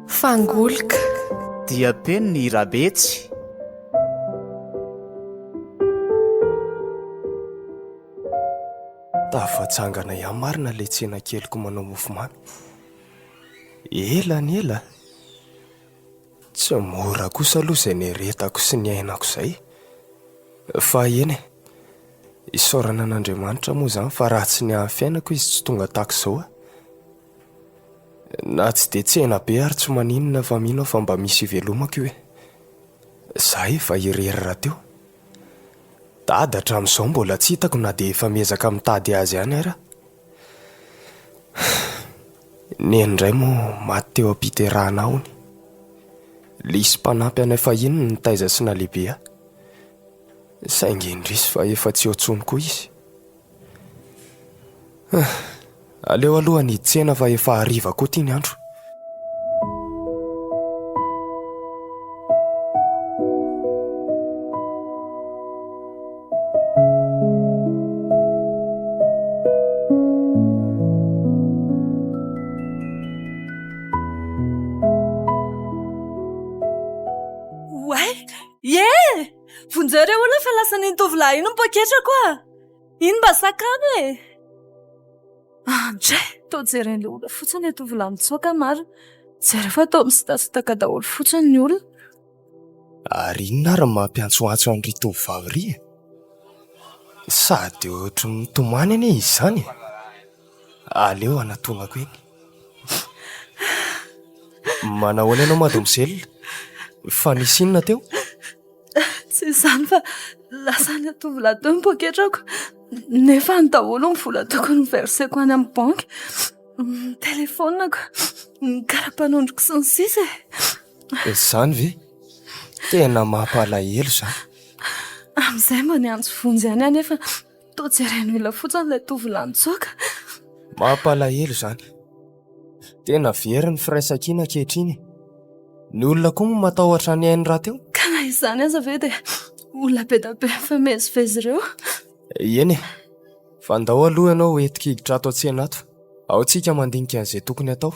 Fangolika Dia teny ny Irabetsy Tafajangana ihany marina ilay tsena keliko manao mofomamy. Ela ny ela. Tsy mora kosa aloha izay nieretako sy niainako izay. Fa eny e, isaorana an'Andriamanitra moa izany fa raha tsy ny haha fiainako izy tsy tonga tahaka izao aho. Na tsy dia tsena be ary tsy maninona fa mino aho fa mba misy ivelomako io e. Izaho efa irery rahateo. Dada hatramin'izao mbola tsy hitako na dia efa miezaka mitady azy ihany ara. Neny indray moa maty teo am-piterahana hono. Lisy mpanampy anay fahiny no nitaiza sy nalehibe ahy. Saingy indrisy fa efa tsy eo intsony koa izy. Aleo aloha ny tsena fa efa hariva koa ity ny andro. Oay! Ie! Vonjeo re hono fa lasa ny tovolahy iny ny poketrako a! Iny mba sakano e! Andray! Toa jeren'ilay olona fotsiny ilay tovolahy mitsoaka marina. Jereo fa toa misitasitaka daholo fotsiny ny olona. Ary inona ary no mampiantsoantso an'irỳ tovovavy irỳ e? Sady ohatry ny mitomany anie izy izany e! Aleo anatonako eny. Manahoana ianao Mademoiselle? Fa nisy inona teo? Tsy izany fa lasan'ilay tovolahy teo ny poketrako nefa any daholo ny vola tokony hoverseko any amin'ny banky, ny telefoniko, ny kara-panondroko sy ny sisa e! Izany ve? Tena mampalahelo izany. Amin'izay mba niantso vonjy ihany aho nefa. Toa jereny olona fotsiny ilay tovolahy nitsoaka. Mampalahelo izany. Tena very ny firaisankina ankehitriny e. Ny olona koa moa matahotra ny ainy rahateo. Ka na izany aza ve dia olona be dia be mifamezivezy ireo? Eny e. Fa ndao aloha ianao ho entiko hiditra ato an-tsena ato. Ao tsika mandinika an'izay tokony atao.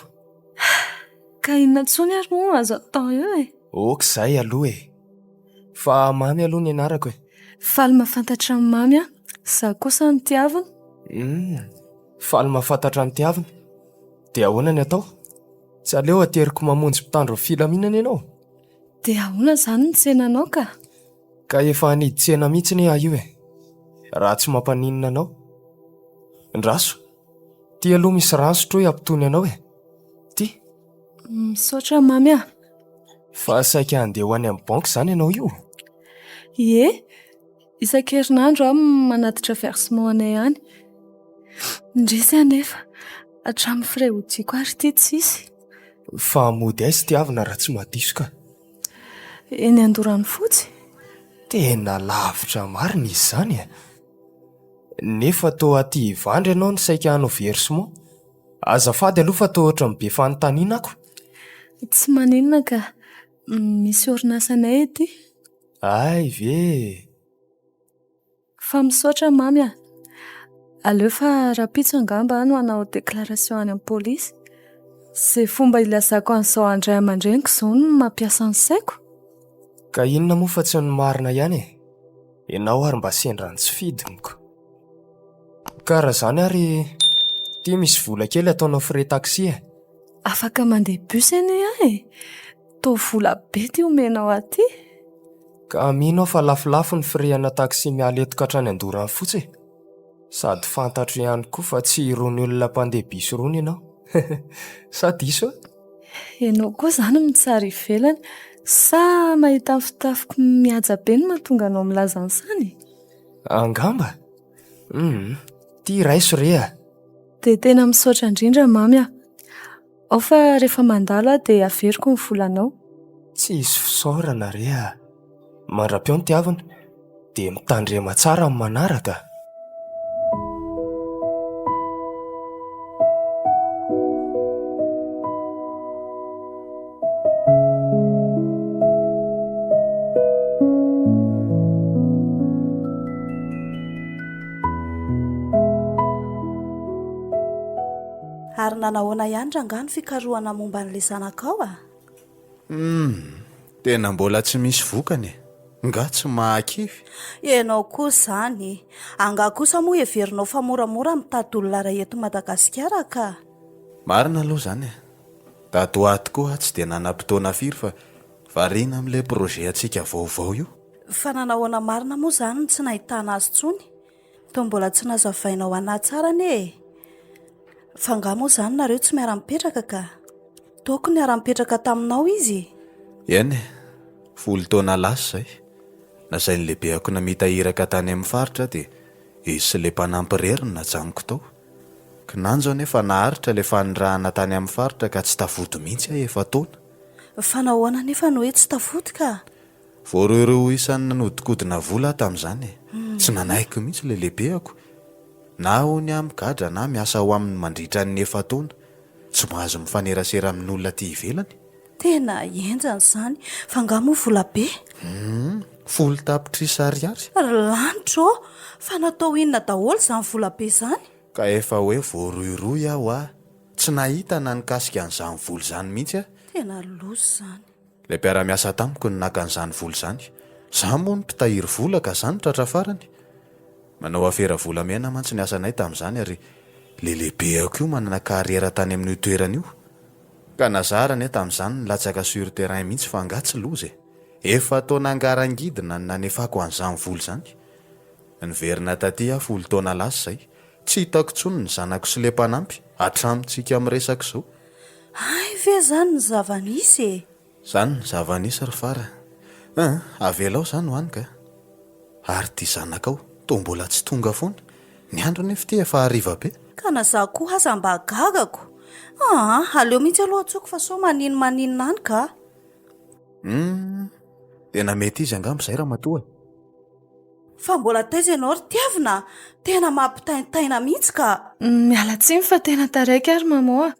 Ka inona intsony ary moa azo atao eo e? Ok izay aloha e. Fa mamy aloha ny anarako e. Faly mahafantatra an'i Mamy aho. Izaho kosa ny tiaviny. Hum, faly mahafantatra ny tiaviny. Dia ahoana ny atao? Tsy aleo ateriko mamonjy mpitandro ny filaminana ianao? Dia ahoana izany ny tsenanao ka? Ka efa hanidy tsena mihitsy anie aho io e. Raha tsy mampaninona anao. Ndraso, ity aloha misy rano sotroy hampitony anao e. Ity. Misaotra Mamy a! Fa saika handeha ho any amin'ny banky izany ianao io? Ie, isan-kerinandro aho manatitra versement anay any. Indrisy anefa, hatramin'ny frais hodiako ary ity tsisy. Fa mody aiza ity havana raha tsy mahadiso ka? Eny Andoranofotsy. Tena lavitra marina izy izany e! Nefa toa aty Ivandry ianao no saika hanao versement? Azafady aloha fa toa ohatran'ny be fanontaniana ako. Tsy maninona ka. Misy orinasanay ety. Hay ve e! Fa misaotra Mamy a! Aleo fa rahampitso angamba aho no hanao déclaration any amin'ny polisy. Izay fomba hilazako an'izao an-dRay aman-dReniko izao no mampiasa ny saiko. Ka inona moa fa tsy ny marina ihany e! Ianao ary mba sendran'ny tsy fidiniko. Ka raha izany ary ity misy vola kely ataonao frais taxi e! Afaka mandeha bus anie aho e! Toa vola be ity omenao ahy ity! Ka mino aho fa lafolafo ny frais ana taxi miala eto ka hatrany Andoran'Fotsy e! Sady fantatro ihany koa fa tsy irony olona mpandeha bus irony ianao. Sa diso aho? Ianao koa izany mitsara ivelany sa mahita ny fitafiko mihaja be no mahatonga anao milaza an'izany? Angamba? Hum, tia raiso re a! Dia tena misaotra indrindra Mamy a! Ao fa rehefa mandalo aho dia averiko ny volanao. Tsy hisy fisaorana re a! Mandra-peo ny tiavina dia mitandrema tsara amin'ny manaraka! Ary nanahoana ihany rangaha ny fikarohana momba an'ilay zanakao a? Humm, tena mbola tsy misy vokany e! Nga tsy mahakivy? Ianao koa izany e! Angaha kosa moa heverinao fa moramora mitady olona iray eto Madagasikara ka? Marina aloha izany e! Dato ato koa aho tsy dia nanam-potoana firy fa variana amin'ilay projet antsika vaovao io. Fa nanahoana marina moa izany no tsy nahitana azy intsony? Toa mbola tsy nazavainao an'ahy tsara anie e! Fa angaha moa izany nareo tsy miara-mipetraka ka? Toako niara-nipetraka taminao izy e! Eny e! Folo taona lasa izay, nasain'ny lehibeako namita iraka tany amin'ny faritra aho dia izy sy ilay mpanampy irery no najanoko tao. Kinanjo anefa naharitra ilay fanirahana tany amin'ny faritra ka tsy tafody mihitsy aho efa-taona. Fa nahoana anefa no hoe tsy tafody ka? Voarohirohy ho isan'ny nanodinkodina vola aho tamin'izany e. Tsy nanahiko mihitsy ilay lehibeko. Na hoy aho migadra na miasa ho aminy mandritra ny efa-taona. Tsy mahazo mifanerasera amin'olona aty ivelany. Tena henjana izany. Fa angaha moa vola be? Humm, folo tapitrisa ariary. Ry lanitra ô! Fa natao inona daholo izany vola be izany? Ka efa hoe voarohirohy aho a! Tsy nahita na nikasika an'izany vola izany mihitsy aho. Tena loza izany. Ilay mpiara-miasa tamiko no naka an'izany vola izany. Izaho moa no mpitahiry vola ka izaho no tratra farany. Manao afera volamena mantsy ny asanay tamin'izany ary ilay lehibeko io manana carrière tany amin'io toerana io. Ka nazara anie tamin'izany nilatsaka sur terrain mihitsy fa angaha tsy loza e! Efa tao nangarangidina ny nanefako an'izany vola izany. Niverina taty aho folo taona lasa izay. Tsy hitako intsony ny zanako sy le mpanampy hatramintsika miresaka izao. Hay ve izany ny zava-nisy e! Zany ny zava nisy ry fara a! Avelao zany ho any ka! Ary ty zanakao toa mbola tsy tonga foana! Ny andro nefa ity efa hariva be! Ka na za koa aza mba gagako! Aa! Aleo mihitsy aloha antsoiko fa sao maninn maninn any ka! Humm! Tena mety izy angamba izay ramatoa e! Fa mbola taiza ianao ry tiavina a! Tena mampitaintaina mihitsy ka! Miala tsiny fa tena taraiky ary maman a!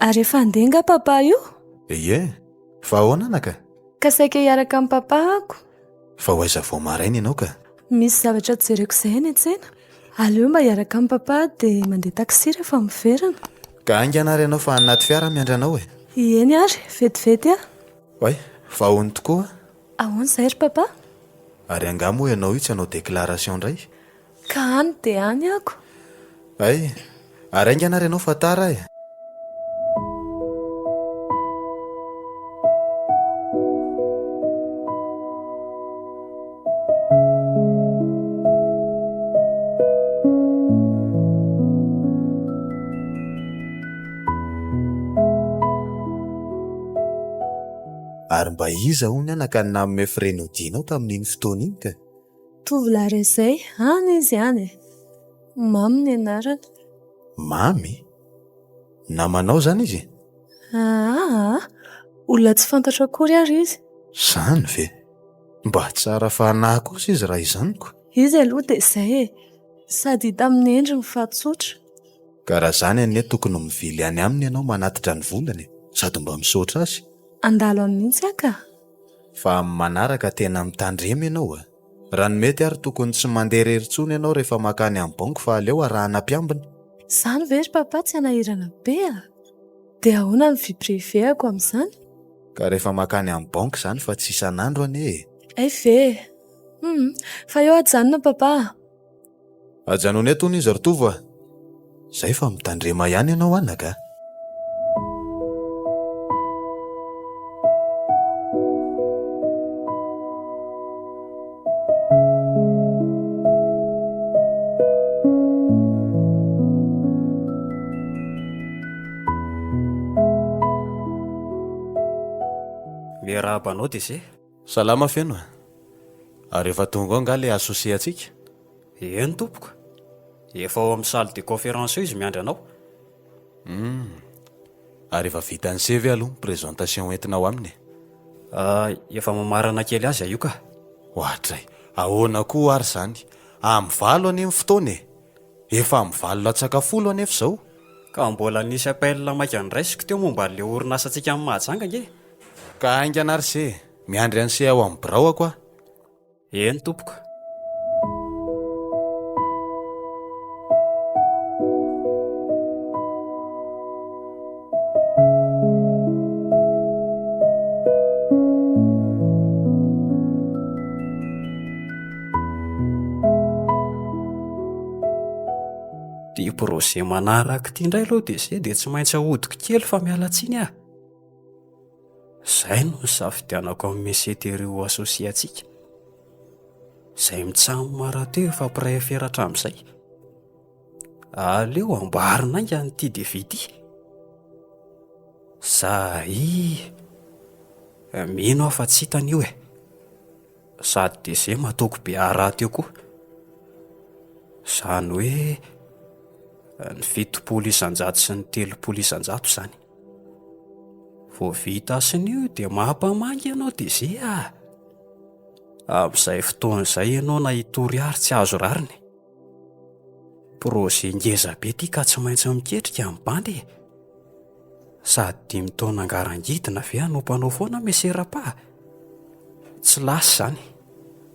Ary efa handeha nga papa io? Ie, fa ahoana anaka? Ka saika hiaraka amin'i papa ako. Fa ho aiza vao maraina ianao ka? Misy zavatra jereko izay any an-tsena. Aleo mba hiaraka amin'i papa dia mandeha taxi rehefa miverina. Ka haingana ary ianao fa any anaty fiara aho miandry anao e! Ieny ary, vetivety aho. Oay, vahony tokoa! Ahoana izay ry papa? Ary angaha moa ianao io tsy hanao déclaration indray? Ka any dia any ako. Hay! Ary haingana ary ianao fa tara eh! Ary mba iza hono ny anaka nanome frais nodianao tamin'iny fotoana iny ka? Tovolahy rezay, any izy any e! Mamy ny anarany. Mamy? Namanao izany izy? Aa! Olona tsy fantatro akory ary izy. Izany ve? Mba tsara fanahy kosa izy raha izany ko! Izy aloha dia izay e! Sady hita amin'ny endriny fa tsotra. Ka raha izany anie tokony mivily any aminy ianao manatitra ny volany e! Sady mba misaotra azy. Handalo any mihitsy aho ka! Fa amin'ny manaraka tena mitandrema ianao e! Raha ny mety ary tokony tsy mandeha irery intsony ianao rehefa mankany amin'ny banky fa aleo arahana mpiambina. Izany ve ry Papa tsy hanahirana be a! Dia ahoana ny vie privée-ako amin'izany? Ka rehefa mankany amin'ny banky izany fa tsy isan'andro anie e! Hay ve e! Humm! Fa eo aho hijanona Papa a! Ajanony eto hono izy ry Tovo a! Izay fa mitandrema ihany ianao anaka a! Miarahaba anao Dese. Salama feno a! Ary efa tonga ao angaha le associé antsika? Eny tompoko, efa ao amin'ny salle de conférence eo izy miandry anao. Hum, ary efa vita ny se ve aloha ny présentation ho entinao aminy e? Ah, efa mamarana kely azy aho io ka. Ohatray, ahoana koa ary izany? Amin'ny valo anie ny fotoana e! Efa amin'ny valo latsaka folo anefa izao. Ka mbola nisy appel maika noraisiko teo momba an'ilay orinasantsika any Mahajanga ange e! Ka haingana ry se, miandry an'i se ao amin'ny biraoako aho. Eny tompoko. Ity projet manaraka ity indray aloha dia se dia tsy maintsy ahodiko kely fa miala tsiny ah. Izay no nisafidianako amin'ny Messeterio ho associé antsika. Izay mitsam marato efa mpiray afera hatramin'izay. Aleo amboarina haingana ity devis ity. Zahii, mino aho fa tsy hitany io e. Sady DG matoky be ahy rahateo koa. Izany hoe ny fitopolo isan-jato sy ny telopolo isan-jato izany. Vao vita asina io dia mampamangy ianao DG a! Amin'izay fotoana izay ianao na hitory àry tsy azo rariny. Projet ngeza be ity ka tsy maintsy miketrika ny bandy e! Sady dimy taona ngarangidina ve hanompanao foana Monsieur Rapa? Tsy lasa izany.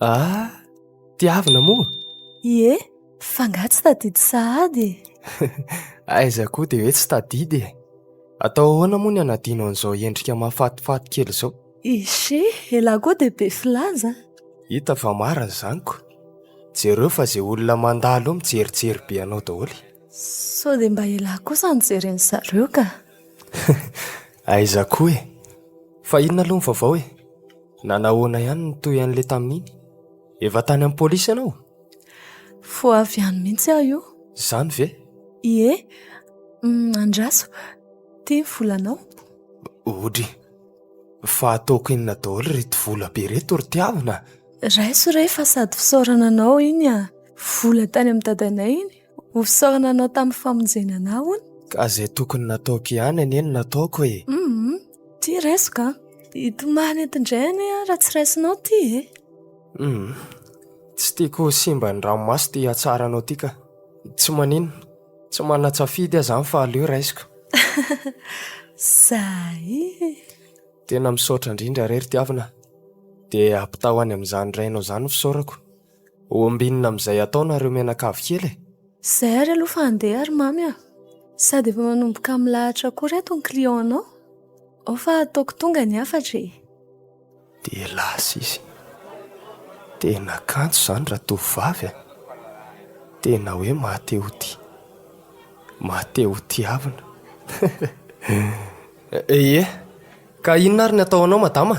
Ah, tiavina moa? Ie, fa nga tsy tadidy sahady e! Aiza koa dia hoe tsy tadidy e! Atao ahoana moa ny hanadino an'izao endrika mahafatifaty kely izao? Ishe, elah koa dia be filaza! Hita fa marina izany ko! Jereo fa izay olona mandalo eo mijerijery be anao daholo e! Sao dia mba elah kosa no jeren'i zareo ka! Aiza koa e! Fa inona aloha ny vaovao e? Nanahoana ihany ny toy an'ilay tamin'iny? Efa tany amin'ny polisy ianao? Vao avy any mihitsy aho io. Izany ve? Ie. Andraso. Ity ny volanao. Odry. Fa ataoko inona daholo ireto vola be ireto ry tiavina? Raiso re fa sady fisaorana anao iny an! Vola tany amin'ny dadanay iny. Ho fisaorana anao tamin'ny famonjena anah hono. Ka izay tokony nataoko ihany anie no nataoko e. Hum, ty raisoka an. Hitomany eto indray anie aho raha tsy raisinao ty e. Hum, tsy tiako ho simba ny ranomaso ity hatsaranao ity ka. Tsy maninona, tsy manan-tsafidy aza aho fa aleo raisiko. Zay. Tena misaotra indrindra re ry tiavina a. Dia ampitao any amin'izany rainao izany ny fisaorako. Ho ambinina amin'izay ataonareo mianakavy kely e! Zay ary aloha fa andeha ary Mamy a! Sady efa manomboka milahatra koa reto ny client-nao. Ao fa ataoko tonga ny hafatra e! Dia lasa izy. Tena kanto izany ratovovavy a! Tena hoe maha te ho tia. Maha te ho tiavina. Heheheh! Ka inona ary ny atao anao madama?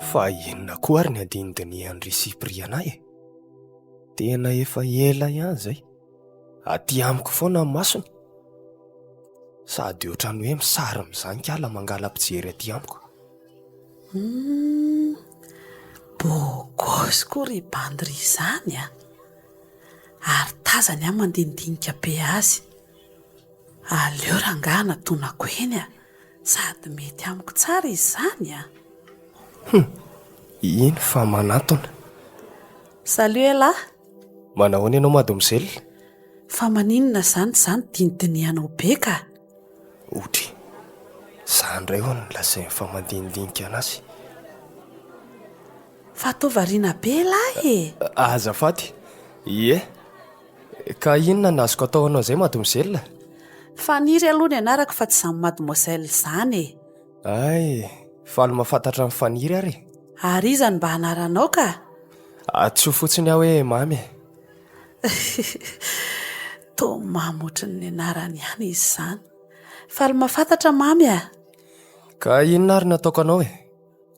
Fa inona koa ary ny andinidinihan ry Cypriana e? Tena efa ela ihany izay. Aty amiko foana ny masony. Sady ohatran'ny hoe misary mizankala mangala-pijery aty amiko. Hum, beau gosse koa ry bandy ry izany a! Ary tazany aho mandinidinika be azy. Aleo rangahy anatonako eny a! Sady mety amiko tsara izany a! Hum! Eny fa manantona. Salut elah! Manahoana ianao mademoiselle? Fa maninona izany za no dinidinihanao be ka? Otry! Za indray hono no lazain'ny fa mandinidinika anazy. Fa toa variana be elah e! Azafady! Ie! Ka inona no azoko atao ho anao izay mademoiselle? Faniry aloha ny anarako fa tsy izany mademoiselle izany e! Hay, faly mahafantatra an'i Faniry ary e! Ary iza no mba anaranao ka? Antsoy fotsiny aho hoe Mamy e! Toa mamy ohatry ny anarany ihany izy izany! Faly mahafantatra Mamy a! Ka inona ary no ataoko anao e?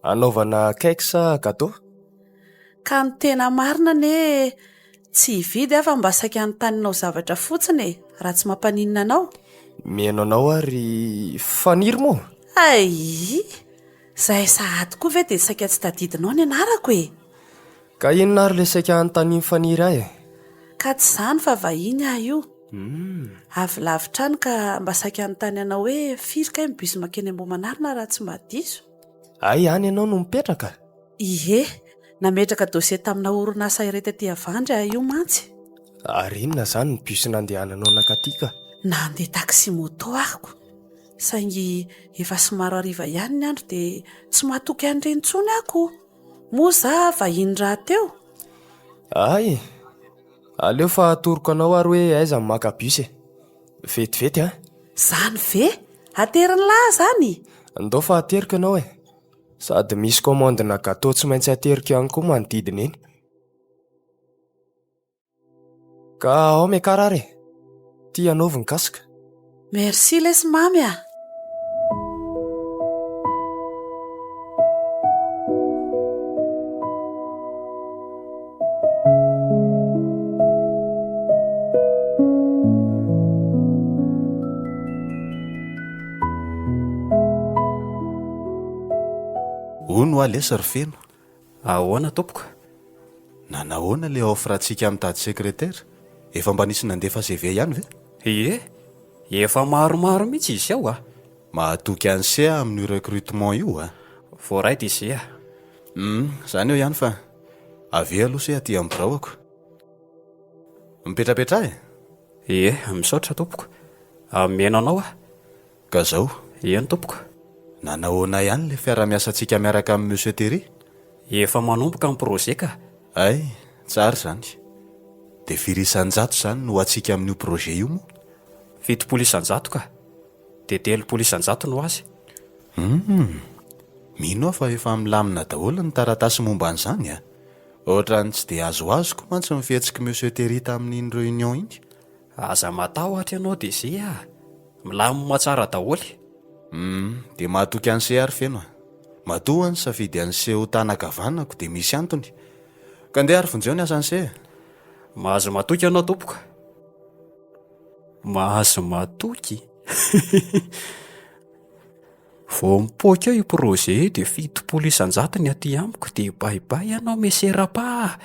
Hanaovana cake sa gateau? Ka ny tena marina anie tsy hividy aho fa mba saika hanontanianao zavatra fotsiny e! Raha tsy mampaninona anao? Mihaino anao aho ry Faniry moa! Aii! Izahay sahady koa ve dia saika tsy tadidinao ny anarako e! Ka inona ary ilay saika hanontanian'i Faniry ahy e? Ka tsy izany fa vahiny aho io. Avy lavitra any ka mba saika hanontany anao hoe firy kay ny bus makeny Ambohimanarina raha tsy mba diso? Hay any ianao no mipetraka? Ie, nametraka dossier tamina orinasa iray taty Avandry aho io mantsy. Ary inona izany ny bus nandehananao nakaty ka? Nandeha taxi moto aho, saingy efa somary hariva ihany ny andro dia tsy mahatoky an'ireny intsony aho. Moa za vahiny rahateo? Hay! Aleo fa atoroko anao ary hoe aiza no maka bus e! Vetivety an! Izany ve? Ateriny lahy izany? Ndao fa ateriko ianao e! Sady misy commande-na gateau tsy maintsy ateriko ihany koa manodidina eny. Ka ao Mekarara e! Ity anaovy ny casque. Merci lesy mamy a! Hono hoa lesy ry Feno. Ahoana tompoko? Nanahoana ilay offre-ntsika amin'ny tady secrétaire? Efa mba nisy nandefa CV ihany ve? Ie, efa maromaro mihitsy izy ao a! Mahatoky an'ise aho amin'io recrutement io a! Voaray dia izay a! Humm, izany eo ihany fa Avia aloha se aty amin'ny biraoko. Mipetrapetraha e! Ie, misaotra tompoko. Mihaino anao aho. Ka zao. Eny tompoko. Nanahoana ihany ilay fiara-miasantsika miaraka amin'i Monsieur Terry? Efa manomboka ny projet ka. Hay, tsara izany. Dia firy isan-jato izany no ho antsika amin'io projet io moa? Fitopolo isan-jato ka. dia telopolo isan-jato no azy. Humm! Mino aho fa efa milamina daholo ny taratasy momba an'izany a! Ohatran'ny tsy dia azoazoko mantsy ny fihetsik'i Monsieur Terry tamin'iny réunion iny. Aza matahotra ianao DG a! Milamima tsara daholo. Humm! Dia mahatoky an'se ary feno a! Matoa ny safidy an'se ho tana kavanako dia misy antony. Ka ndeha ary vonjeo ny asan'se e! Mahazo matoky ianao tompoko. Mahazo matoky. Vao mipoaka eo io projet io dia fitopolo isan-jato ny aty amiko dia bay bay ianao Monsieur Rapa a!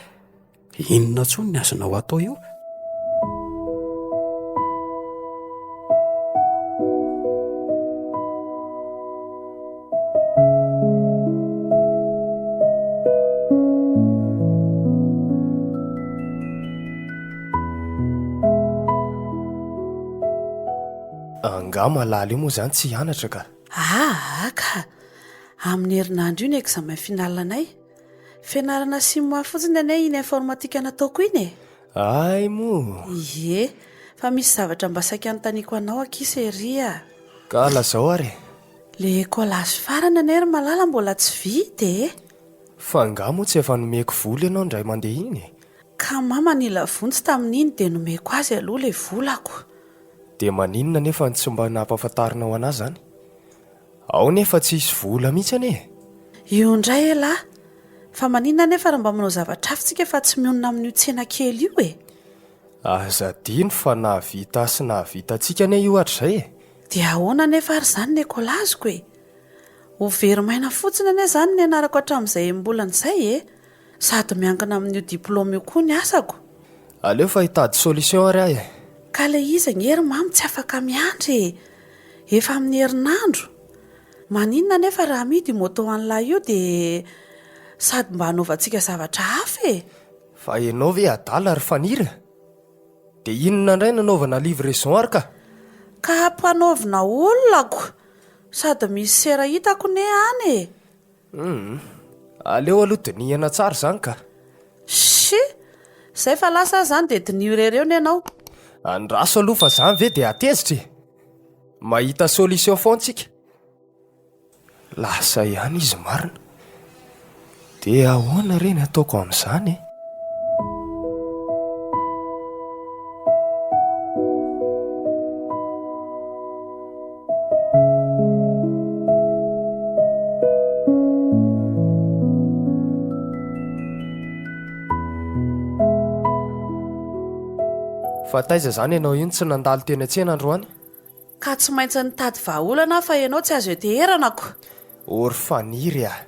Inona intsony ny azonao atao eo? Angaha malala io moa izany tsy hianatra ka? Aa ka! Amin'ny herinandro io ny examen final anay. Fianarana CIMA fotsiny anie iny informatique nataoko iny e! Hay moa! Ie, fa misy zavatra mba saika anontaniako anao akia Sery a! Ka lazao ary e! Le collage farany anie ry malala mbola tsy vita e! Fa angaha moa tsy efa nomeko vola ianao indray mandeha iny e? Ka mama nila vonjy tamin'iny dia nomeko azy aloha ilay volako. Dia maninona anefa no tsy mba nampafantarinao an'ahy izany? Ao nefa tsy hisy vola mihitsy anie e! Io indray elah! Fa maninona anefa raha mba manao zavatra hafa tsika fa tsy mionona amin'io tsena kely io e? Aza adino fa nahavita sy nahavitantsika anie io hatrizay e! Dia ahoana anefa ary izany ny ekolaziko e? Ho very maina fotsiny anie izany ny anarako hatramin'izay enim-bolana izay e! Sady miankina amin'io diploma io koa ny asako. Aleo fa hitady solution ary aho e! Ka ilay izy anie ry Mamy tsy afaka miandry e! Efa amin'ny herinandro! Maninona anefa raha amidy io moto an'lah io dia sady mba hanaovantsika zavatra hafa e! Fa ianao ve adala ry Faniry? Dia inona indray no anaovana livraison ary ka? Ka ampanaovina olona ko! Sady misy sera hitako ne any e! Hum, aleo aloha dinihana tsara izany ka! Shhh! Izay fa lasa aza izany dia diniho irery eo ne ianao! Andraso aloha fa izany ve dia hatezitra e! Mahita solution foana tsika! Lasa ihany izy marina. Dia ahoana re ny ataoko amin'izany e? Fa taiza izany ianao iny tsy nandalo teny an-tsena androany? Ka tsy maintsy nitady vahaolana aho fa ianao tsy azo ianteherana ko! Or faniry aho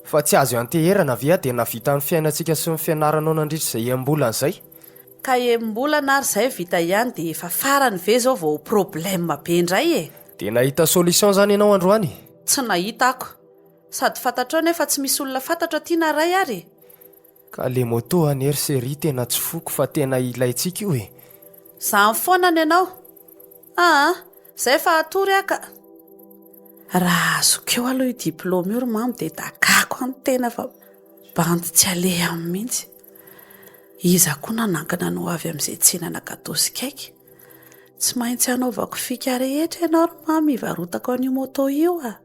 fa tsy azo ianteherana ve aho dia nahavita ny fiainantsika sy ny fianaranao nandritra izay enim-bolana izay? Ka enim-bolana ary izay vita ihany dia efa farany ve izao vao ho problème be indray e! Dia nahita solution izany ianao androany? Tsy nahita ako! Sady fantatrao nefa tsy misy olona fantatro aty na ray ary e! Ka le moto anie ry Cherie tena tsy foko fa tena ilaintsika io e! Zany foana ny anao. Aa zay fa hatory aho ka. Raha azoko eo aloha io diploma io ry mamo dia dagako any tena fa bandy tsy aleha aminy mihitsy. Iza koa nanankina ny ho avy amin'izay tsy hinana gateau sy cake. Tsy maintsy hanaovako fika rehetra ianao ry mamo hivarotako an'io moto io a!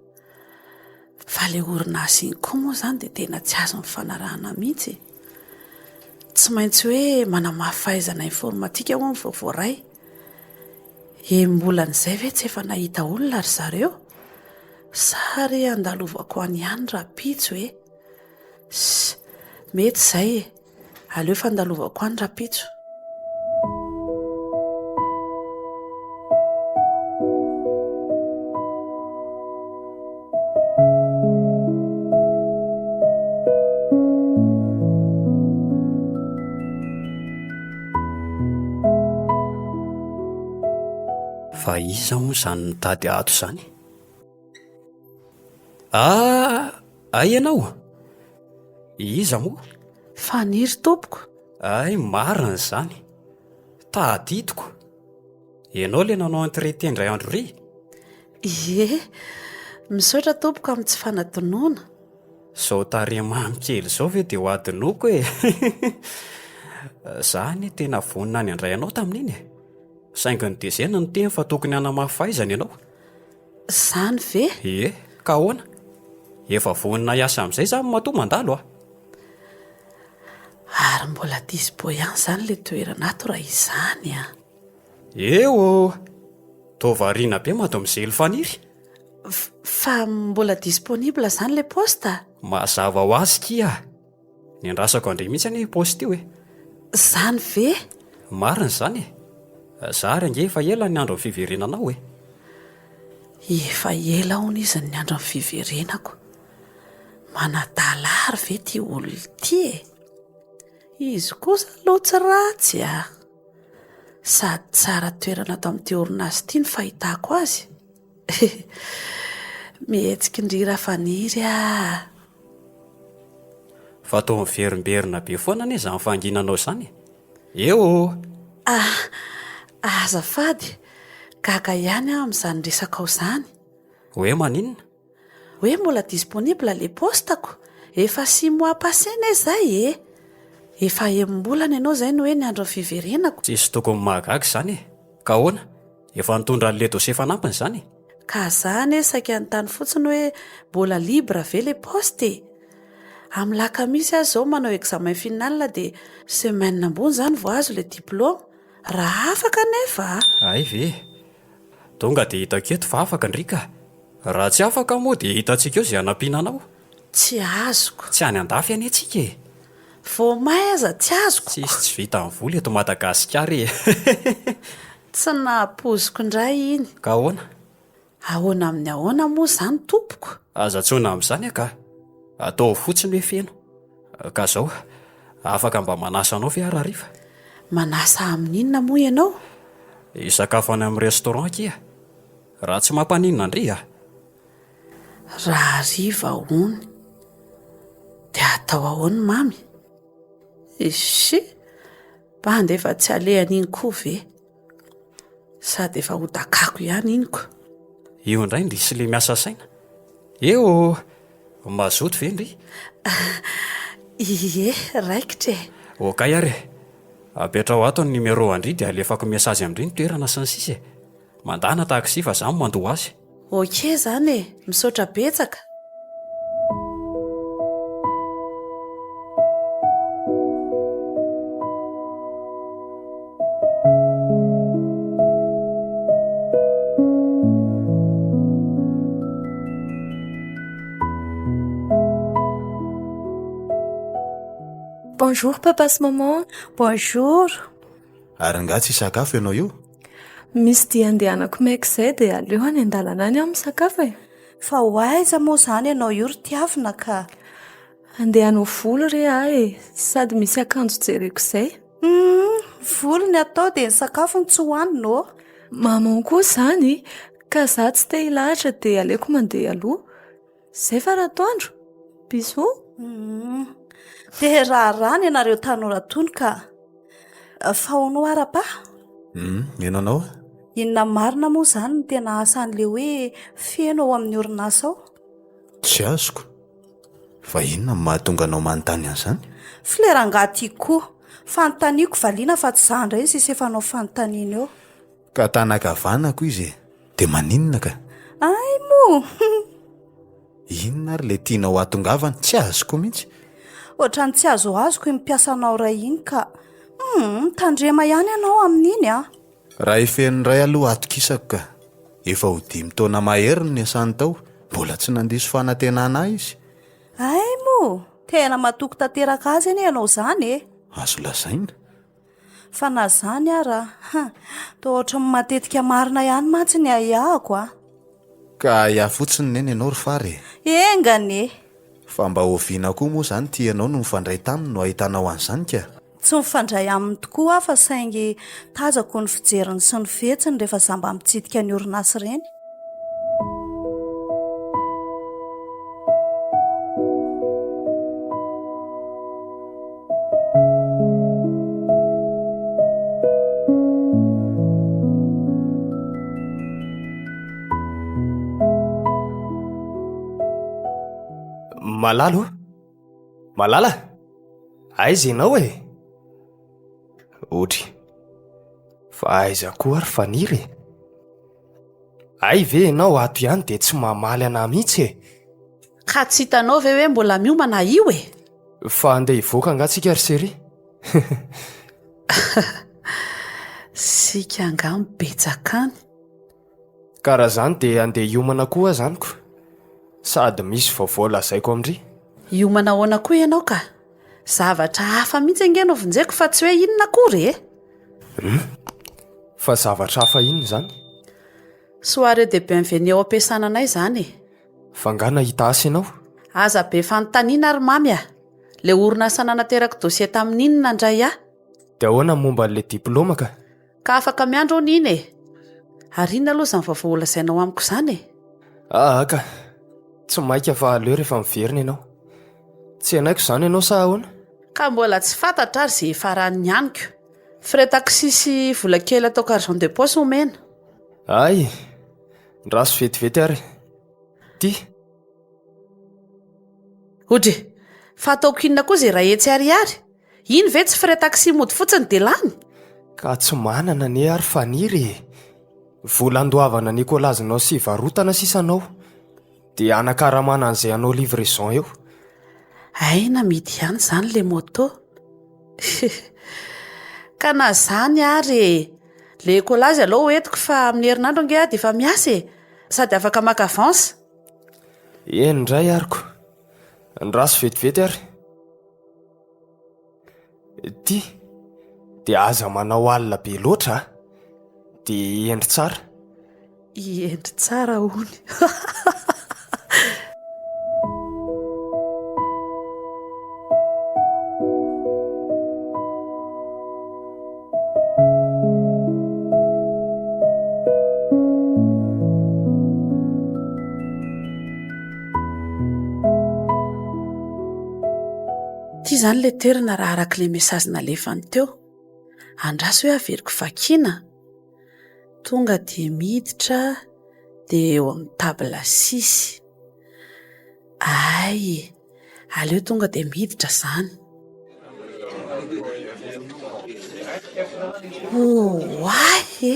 Fa ilay orinasa iny koa moa izany dia tena tsy azo nifanarahana mihitsy e. Tsy maintsy hoe manamafy fahaizana informatika hono vao voaray. Enim-bolan'izay ve tsy efa nahita olona ry zareo? Sa re andalovako any ihany rahampitso e? Ss, mety izay e. Aleo fandalovako any rapitso. Fa iza moa izany mitady ato izany? Ah! Hay ianao? Iza moa? Faniry tompoko. Hay marina izany. Tadidiko. Ianao ilay nanao entrée teny indray andro iry? Ie. Misaotra tompoko amin'ny tsy fanadinoana. Izao tarehy mamy kely izao ve dia ho adinoiko e! Izaho anie tena vonona ny handray anao tamin'iny e! Saingy ny DG no niteny fa tokony hanamafy fahaizana ianao. Izany ve? Ie, ka ahoana? Efa vonona hiasa amin'izay izany matoa mandalo a! Ary mbola dispo ihany izany ilay toerana ato raha izany an! Eo ô! Toa variana be Mademoiselle Faniry! Fa mbola disponible izany ilay poste? Mazava ho azy kia! Niandrasako andre mihitsy anie io post io e! Zany ve? Marina izany e! Za ary ange efa ela niandry ny fiverenanao e! Efa ela hono izy no niandry ny fiverenako. Manadala ary ve ity olona ity e! Izy kosa aloha tsy ratsy a! Sady tsara toerana ato amin'ity orinasa ity ny fahitako azy. Mihetsiky ndry ra faniry ah. Fa toa miverimberina be foana anie izany fanginanao izany e! Eo oh! Ah! Azafady, gaga ihany aho amin'izany resakao izany. Hoe maninona? Hoe mbola disponible ilay paostako? Efa six mois passé ne izay e! Efa enim-bolana ianao izay no hoe ny andron'ny fiverenako. Tsisy tokony mahagaga izany e! Ka ahoana? Efa nitondra an'le dossier fanampiny zany e! Ka za anie saika nitany fotsiny hoe mbola libre ve le poste e! Am lakamisy aza zao manao examen final dia semaine ambony zany vao azo le diploma raha afaka anefa a! Hay ve e! Tonga dia hitako eto fa afaka ndry ka! Raha tsy afaka moa dia hitantsika eo zay hanampiana anao. Tsy azoko. Tsy any andafy anie tsika e! Voamay aza tsy azoko. Tsisy tsy vita ny vola eto Madagasikara e! Tsy nahapoiziko indray iny. Ka ahoana? Ahoana amin'ny ahoana moa izany tompoko? Aza antsoina amin'izany angaha! Ataovy fotsiny hoe feno. Ka izao, afaka mba manasa anao ve aho rahariva? Manasa amin'inona moa ianao? Hisakafo any amin'ny restaurant akia. Raha tsy mampaninona ndry a! Rahariva hono. Dia atao ahoana mamy? Echee! Bandy efa tsy alehan'iny koa ve? Sady efa ho dakako ihany iny ko! Eo indray ndry sle miasa saina. Eo ô! Mazoto ve ndry? Ie, raikitra e! Okay ary e! Apetraho ato ny numero an-dry dia alefako message amin-dry ny toerana sy ny sisa e! Mandana taxi fa za mandoa azy. Ok zany e! Misaotra betsaka. Bonjour papa sy maman. Bonjour. Ary angaha tsy hisakafo ianao io? Misy dia andehanako maika izay dia aleo any an-dalana any aho misakafo e! Fa ho aiza moa izany ianao io ry tiavina ka? Handeha hanao volo re aho e! Sady misy akanjo jereko izay. Huumm! Volo ny atao dia ny sakafo no tsy hohanina ô! Maman koa izany! Ka izaho tsy te hilahatra dia aleoko mandeha aloha. Zay fa Ratoandro. Bisous. Hum. Te raharaha ny anareo tanora tony ka. Fa hono oa Rapa? Hum, mino anao aho. Inona marina moa izany ny tena asan'ilay hoe feno ao amin'ny orinasa ao? Tsy azoko. Fa inona no mahatonga anao manontany an'izany? Flera angaha tiako koa. Fanontaniako valiana fa tsy izaho indray no sisa efa hanao fanontaniana eo. Ka tanakavanako izy e! Dia maninona ka? Ay moa! Inona ary ilay tianao hahatongavana? Tsy azoko mihitsy! Ohatran'ny tsy azoazoko iny mpiasanao iray iny ka! Hum! Tandrema ihany ianao amin'iny an! Raha efen'ny iray aloha atokisako ka! Efa ho dimy taona mahery no niasany tao, mbola tsy nandiso fanantenana ahy izy! Ay moa! Tena matoky tanteraka azy anie ianao izany e! Azo lazaina! Fa na zany ara a! Toa ohatran'ny matetika marina ihany mantsy ny ahiahiko a! Ka ahiahy fotsiny neny ianao ry fara e! Enga anie! Fa mba oviana koa moa izany ity ianao no nifandray taminy no ahitanao an'izany ka? Tsy nifandray aminy tokoa aho fa saingy tazako ny fijeriny sy ny fihetsiny rehefa za mba mitsidika ny orinasa ireny. Malala ô! Malala! Aiza ianao e? Otry! Fa aiza koa ary Faniry e? Hay ve ianao ato ihany dia tsy mamaly anah mihitsy e! Ka tsy hitanao ve hoe mbola miomana io e! Fa handeha hivoaka angaha tsika ry Seri? Sika angaha mibetsaka any? Ka raha zany dia handeha hiomana koa aza amiko. Sady misy vaovao lazaiko amri. Hiomana ahoana koa ianao ka? Zavatra hafa mihitsy ange no vonjeko fa tsy hoe inona akory e! Hum? Fa zavatra hafa inona izany? Soirée de bienvenue ao am-piasana anay izany e! Fa angaha nahita asa ianao? Aza be fanontaniana ry Mamy a! Ilay orinasa nanaterako dossier tamin'iny nandray ahy. Dia ahoana momba an'ilay diplaoma ka? Ka afaka miandry aho Nina e! Ary inona aloha izany vaovao holazainao amiko izany e? Aa ka! Tsy maika fa aleo rehefa miverina ianao. Tsy henoko izany ianao sa ahoana? Ka mbola tsy fantatra ary izay ifaran'ny aniko. Frais taxi sy vola kely ataoko argent de poche omena. Ay! Ndraso vetivety ary ity. Odry! Fa ataoko inona koa izay iray hetsy ariary? Iny ve tsy frais taxi mody fotsiny dia lany? Ka tsy manana anie ary faniry e! Vola andoavana ny kolazinao sy varotana sisa anao dia anakaramana an'izay hanao livraison eo. Hay namidy ihany izany ilay moto e! Ka na izany ary e! Ilay kolazy alou ho entiko fa amin'ny herinandro ange aho dia efa miasa e! Sady afaka maka avance. Eny indray ary ko! Andraso vetivety ary! Ty dia aza manao alina be loatra a. Ah. Dia endry tsara. I endry tsara hony. Ity izany ilay toerana raha araka ilay message nalefany teo. Andraso hoe averiko vakiana. Tonga dia miditra dia eo amin'ny table six. Hay e! Aleo tonga dia miditra izany. Oay e!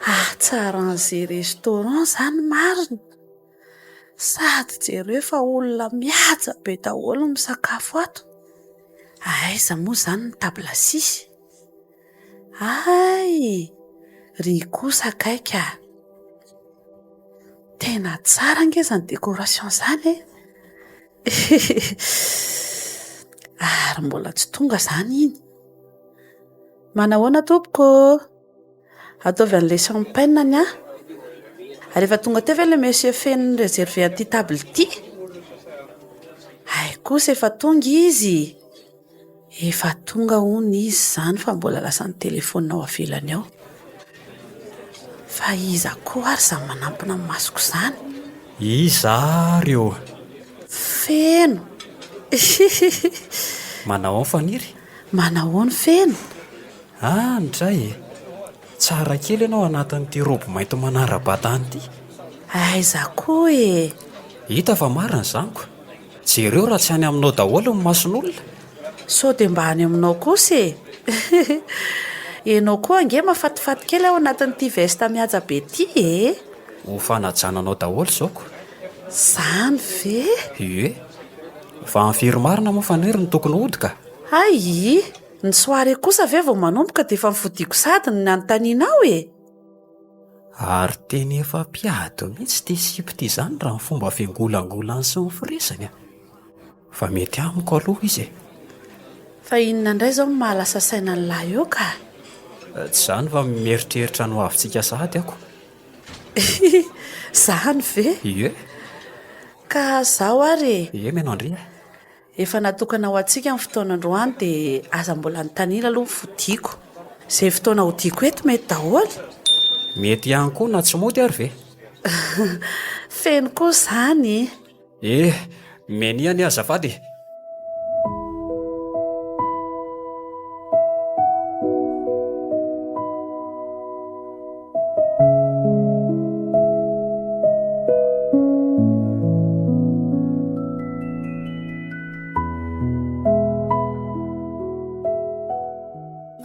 Hatsaran'izay restaurant izany marina. Sady jereo fa olona mihaja be daholo no misakafo ato. Aiza moa izany ny table six? Hay! Ry kosa akaiky a! Tena tsara ange izany décoration izany e! Ary mbola tsy tonga izany iny. Manahoana tompoko ô? Ataovy an'ilay champagne ny ahy. Ary efa tonga teo ve ilay monsieur feno ni-réserver an'ity table ity? Hay kosa efa tonga izy. Efa tonga hono izy izany fa mbola lasa nitelefaonina ao ivelany ao. Fa iza koa ary izany manampina ny masoko izany? Iza ary eo? Feno! Manahoan Faniry? Manahoan Feno? Ah, nitray e! Tsara kely ianao anatin'ity robe mainty manara-batana ity. Aiza koa e! Hita fa marina izany ko! Jereo raha tsy any aminao daholo ny mason'olona? Sao dia mba any aminao kosa e! Ianao koa ange mahafatifaty kely ao anatin'ity veste mihaja be ity e! Ho fanajana anao daholo izao ko! Izany ve? Ie! Fa ny firy marina moa faniriy no tokony hody ka! Ayii! Ny soirée kosa ve vao manomboka dia efa nifodiako sady ny nanontanianao e! Ary tena efa mpiady mihitsy ity Sipa ity izany raha ny fomba fiangolangolany sy ny firesany an! Fa mety amiko aloha izy e! Fa inona indray izao no maha lasa saina ny lahy eo ka? Tsy izany fa mieritreritra ny ho avintsika sahady aho ko! Izany ve? Ie! Ka izaho ary e! Ie mianao ndry e! Efa natokana ho antsika ny fotoana androany dia aza mbola anontaniana aloha ny fodiako. Izay fotoana hodiako eto mety daholo? Mety ihany koa na tsy mody ary ve? Feno koa izany e! Eh, menia anie azafady e!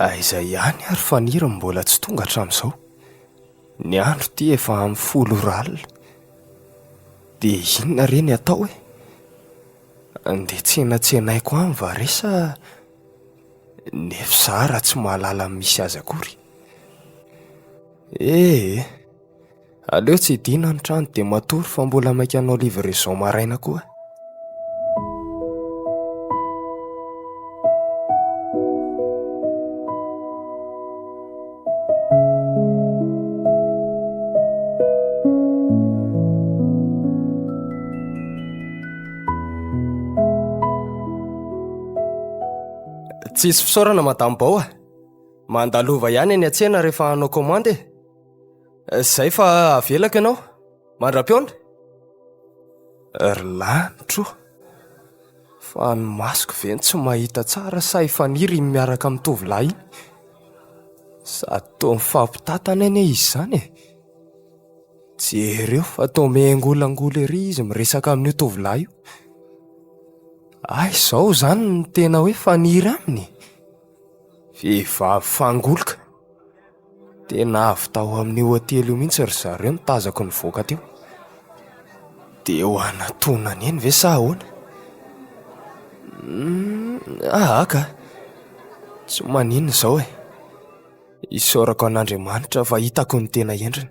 Aiza ihany ary fa ny hira no mbola tsy tonga hatramin'izao. Ny andro ity efa amin'ny folo ora alina. Dia inona re ny atao e? Andeha tsenatsenaiko any va re sa ny FSAR tsy mahalala ny misy azy akory? Eh eh! Aleo tsy hidina ny trano dia matory fa mbola maika hanao livraison maraina koa. Tsisy fisaorana Madame Bao a! Manda lova ihany eny an-tsena rehefa hanao commande e. Izay fa avelako ianao. Mandra-pihaona. Ry lanitro ô! Fa ny masoko ve no tsy mahita tsara sa i Faniry iny miaraka amin'ny tovolahy iny? Sady toa mifampitantana anie izy izany e! Jereo fa toa miangolangola ery izy miresaka amin'io tovolahy io. Aiza izao izany ny tena hoe Faniry aminy e? Vehivavy fangoloka. Tena avy tao amin'ny hotely io mihitsy ry zareo no tazako nivoaka teo. Dia ho an'antonona eny ve sa ahoana? Aa ka! Tsy maninona izao e! Isaorako an'Andriamanitra fa hitako ny tena endriny.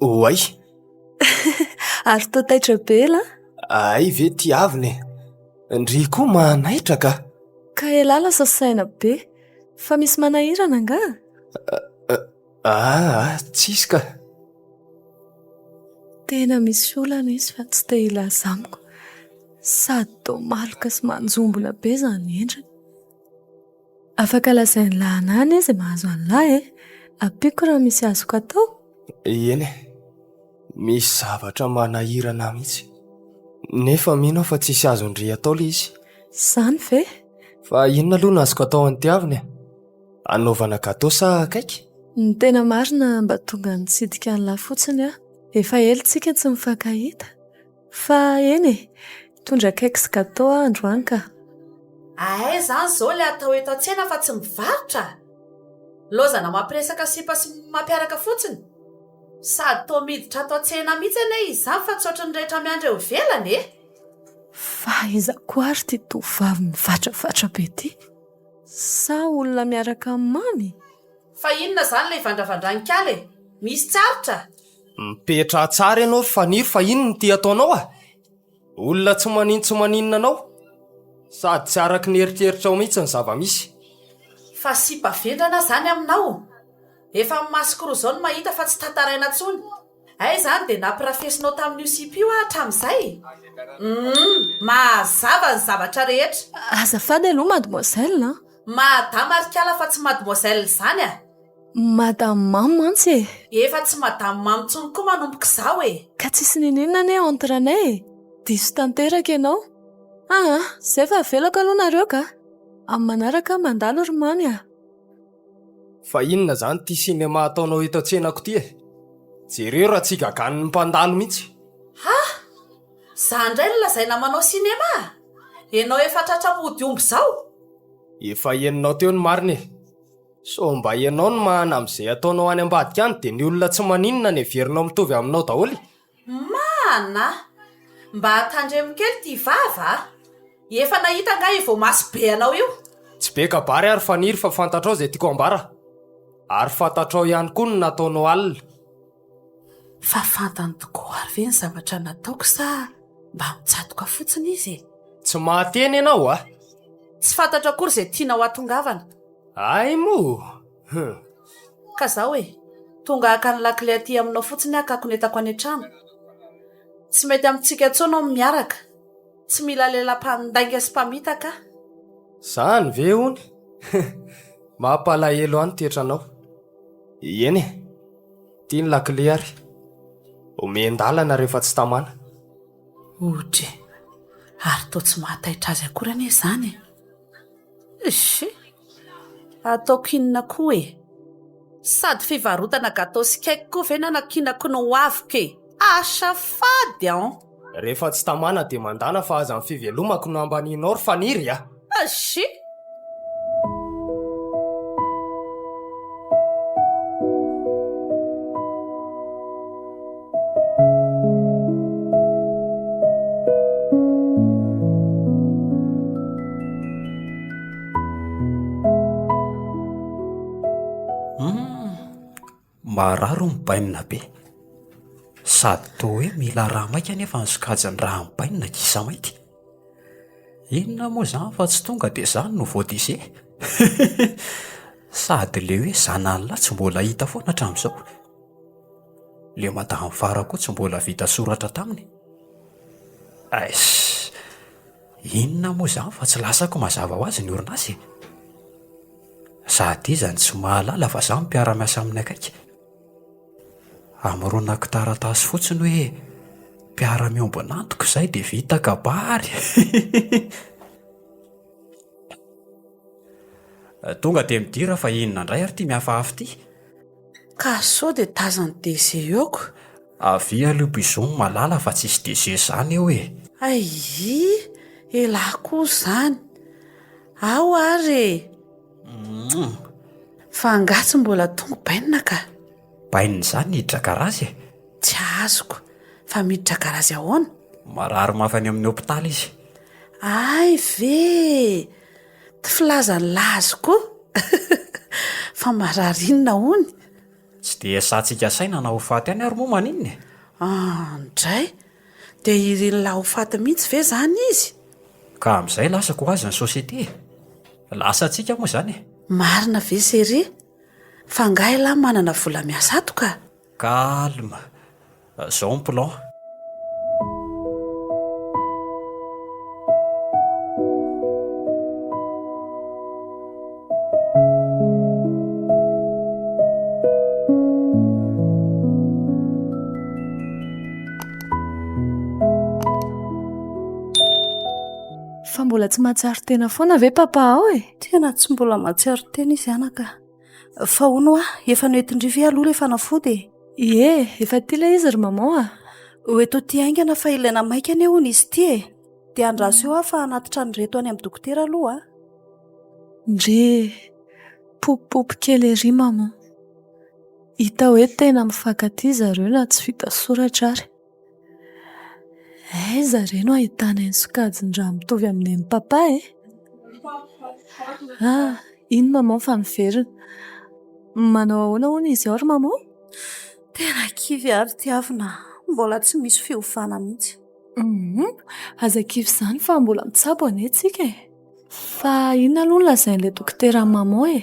Oay! Ary toa taitra be ela an! Hay ve tiavina e! Ndry koa mahanaitra ka! Ka elah lasa saina be! Fa misy manahirana angaha? Aa tsisy ka! Tena misy olana izy fa tsy te hilaza amiko. Sady toa maloka sy manjombona be izany endriny. Afaka lazain'i Lahana anie izay mahazo an'lah e! Ampiako raha misy azoko atao? Eny e! Misy zavatra manahirana ahy mihitsy. Nefa mino aho fa tsisy azon-dry atao le izy. Zany ve? Fa inona aloha no azoko atao an'i Tiavina e? Anaovana gateau sa cake? Ny tena marina mba tonga nitsidika an'lah fotsiny aho. Efa ela tsika tsy nifankahita. Fa eny e! Mitondra cake sy gateau aho androany ka! Ahay izany izao ilay atao eto an-tsena fa tsy mivarotra! Nilaozana mampiresaka sipa sy mampiaraka fotsiny! Sady toa miditra ato an-tsena mihitsy anie izy izany fa tsy ohatry ny rehetra miandry eo ivelany e! Fa iza koa ary ity tovovavy mivatravatra be ity? Sa olona miaraka amin'i Mamy? Fa inona izany ilay ivandravandran'i Kala e? Misy tsy aritra? Mipetraha tsara ianao ry Faniry fa inn no ty ataonao ah? Olona tsy manin tsy maninona anao? Sady tsy araky ny eritreritrao mihitsy ny zava-misy. Fa sipa vendrana zany aminao? Efa amin'ny masoko roa zao no mahita fa tsy tantaraina tsony. Hay izany dia nampirafesinao tamin'io sipa io ah hatramin'izay? Humm mahazava ny zavatra rehetra. Azafady aloha mademoiselle an! Madama ry kala fa tsy mademoiselle zany ah! Madame Mamy mantsy e! Efa tsy Madame Mamy intsony koa manomboka izaho e! Ka tsisy niniana anie entre anay e! Diso tanteraka ianao! Aa! Izay fa avelako aloha nareo ka! Amin'ny manaraka aho mandalo ry Mamy a! Fa inona izany ity cinéma ataonao eto an-tsenako ity e! Jereo raha tsy gaganin'ny mpandalo mihitsy! Ha! Izaho indray no lazaina manao cinéma? Ianao efa tratra mody omby izao? Efa henonao teo ny marina e! Sao mba ianao no mahana amin'izay ataonao any ambadika any dia ny olona tsy maninona no heverinao mitovy aminao daholo e? Mahana! Mba tandremo kely ity vava a! Efa nahita angaha io voamaso be anao io? Tsy be kabary aho ry Faniry fa fantatrao izay tiako ambara. Ary fantatrao ihany koa ny nataonao alina. Fa fantany tokoa ary ve ny zavatra nataoko sa mba mitsatoka fotsiny izy e? Tsy mahateny ianao a! Tsy fantatro akory izay tianao hahatongavana. Ay moa! Huh! Ka zaho e! Tonga haka ny lakile aty aminao fotsiny aho ka konetako any an-trano. Tsy mety amintsika intsony hono ny miaraka. Tsy mila lehilahy mpandainga sy mpamitaka aho. Izany ve hono? Huh! Mampalahelo ahy ny toetranao. Eny e! Ity ny lakile ary omen-dalana rehefa tsy tamana. Oudry, ary toa tsy mahataitra azy akory anie izany e! Eish! Ataoko inona koa e! Sady fivarotana gateau sy cake koa ve nanakinako ny ho aviko e! Asa fady an! Rehefa tsy tamana dia mandana fa aza ny fivelomako no ambanianao ry Faniry a! Eish! Marary ny bainina be. Sady toa hoe mila rà maika anefa ny sokajiny raha ny bainina gisa mainty. Inona moa izany fa tsy tonga dia izany no vao disé? Sady ilay hoe zanany lahy tsy mbola hita foana hatramin'izao. Ilay madame Fara koa tsy mbola vita soratra taminy? Eish! Inona moa izany fa tsy lasako mazava ho azy ny orinasa e! Sady iza no tsy mahalala fa izaho no mpiara-miasa aminy akaiky? Amoronako taratasy fotsiny hoe mpiara-miombon'antoko izay dia vita kabary! Tonga dia midira fa inona indray ary ity mihafahafy ity? Ka sao dia tazan'i DG eo ko. Avia aleo bizou malala fa tsisy DG zany eo e. Ayii elah koa zany. Ao ary e. Mouh. Fa angaha tsy mbola tonga bainina ka. Bainina zany hiditra garazy e. Tsy azoko. Fa miditra garazy ahoana? Marary mafy any amin'ny hopitaly izy. Ay ve! Tsy filazan'i Lazy koa fa marary inona hono? Tsy dia sahatsika saina na ho faty ihany ary moa maninona e? An, dray! Dia irin'i La ho faty mihitsy ve izany izy? Ka amin'izay lasa ko ho azy ny société e! Lasa antsika moa izany e! Marina ve Chérie? Fa angaha i La manana vola miasa ato ka! Calme, zao ny plan. Fa mbola tsy mahatsiaro tena foana ve papa ao e? Tena tsy mbola mahatsiaro tena izy anaka. Fa hono hoa, efa noentin-dry ve aloha ilay fanafody e? Ie, efa aty ilay izy ry maman a! Ho eto aty haingana fa ilaina maika anie hono izy ity e! Dia andraso eo aho fa hanatitra an'ireto any amin'ny dokotera aloha a! Ndry, popopopo kely ery maman. Hita hoe tena mifankatia zareo na tsy vita soratra ary. Aiza re no ahitana iny sokajin-draha mitovy amin'ny an'i Papa e? Iny Maman fa niverina. Manao ahoana hono izy ao ry Maman? Tena kivy ary tiavina. Mbola tsy misy fiovana mihitsy. Aza kivy izany fa mbola mitsabo anie tsika e. Fa inona aloha no lazain'ilay dokotera an'i Maman e?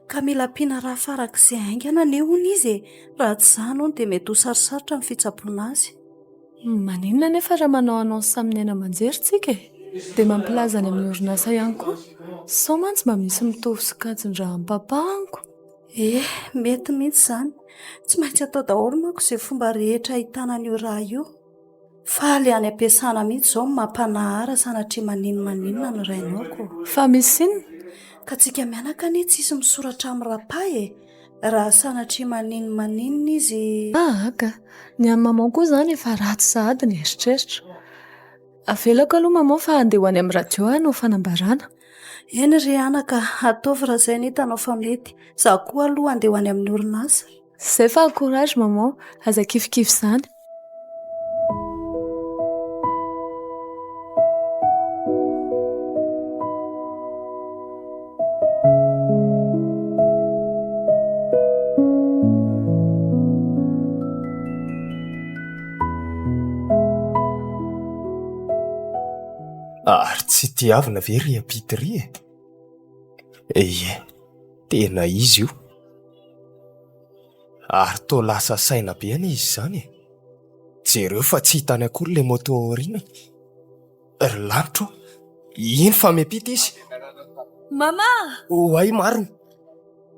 Ka mila ampiana rà farak'izay haingana anie hono izy e! Raha tsy izany hono dia mety ho sarosarotra ny fitsaboana azy. Maninona anefa raha manao annonce amin'ny haino aman-jery isika e? Dia mampilaza any amin'ny orinasa ihany koa. Sao mantsy mba misy mitovy sokajin-draha ampapahako. Eny, mety mihitsy izany. Tsy maintsy atao daholo manko izay fomba rehetra ahitana an'io rà io. Faly any am-piasana mihitsy izao ny mampanahara sanatria maninona maninona ny rainao ko. Fa misy inona? Ka tsika mianaka anie tsisy misoratra amin'ny rapa e! Raha sanatria maninona maninona izy. Ah aka! Ny an'i maman koa izany efa ratsy sahady ny eritreritra. Avelako aloha maman fa handeha ho any amin'ny radio aho hanao fanambarana. Eny ry anaka, ataovy raha izay no hitanao fa mety. Izaho koa aloha handeha ho any amin'ny orinasa. Zay fa courage maman, aza kivikivy zany. Ary tsy tiavina ve ry Apity ry e? Eie, tena izy io. Ary toa lasa saina be anie izy izany e! Jereo fa tsy hitany akory ilay moto ao aoriana. Ry lanitra ô! Iny fa miampita izy. Mama! Oay marina!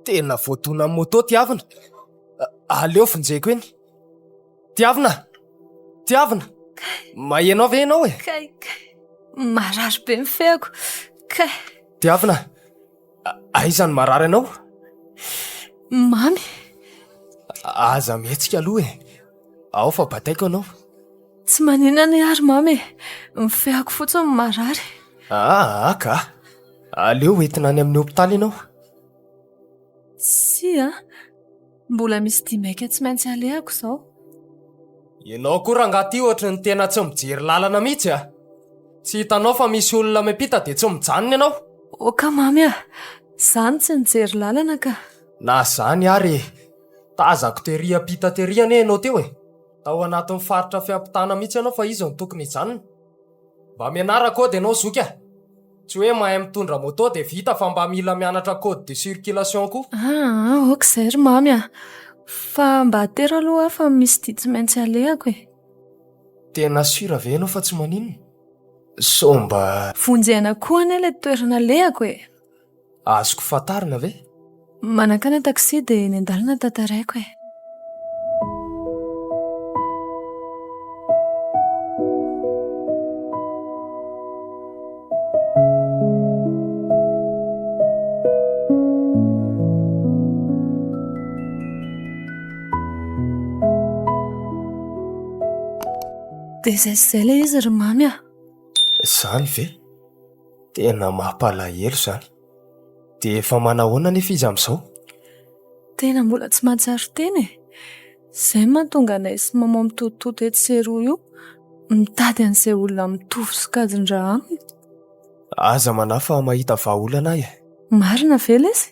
Tena voadonan'ny moto Tiavina. Aleo vonjeko eny. Tiavina! Tiavina! Maheno ahy ve ianao e? Kay, kay! Marary be ny feako. Kay! Tiavina! Aiza ny marary anao? Mamy. Aza mihetsika aloha e. Ao fa bataiko anao. Tsy manina anie ary mamy e. Ny feako fotsiny no marary. Ah, ka. Aleo entina any amin'ny hopitaly ianao. Tsia. Mbola misy dia maika tsy maintsy alehako izao. Ianao koa rangaha ty ohatry ny tena tsy mijery lalana mihitsy a! Tsy hitanao fa misy olona miampita dia tsy mijanona ianao? Ok mamy a! Za no tsy nijery lalana ka! Na zany ary e! Tazako tery hiampita tery anie ianao teo e! Tao anatin'ny faritra fiampitana mihitsy ianao fa iza no tokony hijanona? Mba mianara code ianao zoky a! Tsy hoe mahay mitondra moto dia vita fa mba mila mianatra code de circulation koa. Aa ok izay ry Mamy a! Fa mba atero aloha aho fa misy dia tsy maintsy alehako e! Tena sûr ve ianao fa tsy maninona? Sao mba. Vonjena koa anie ilay toerana alehako e! Azoko fantarina ve? Manankana taxi dia eny an-dalana tantaraiko e. Dia izay sy izay ilay izy ry Mamy a! Izany ve? Tena mampalahelo izany. Dia efa manahoana anefa izy amin'izao? Tena mbola tsy mahatsiaro tena e! Izay no mahatonga anay sy Maman mitototota etsy sy eroa io, mitady an'izay olona mitovy sokajin-dra aminy. Aza manahy fa mahita vahaolana ahy e! Marina ve ilay izy?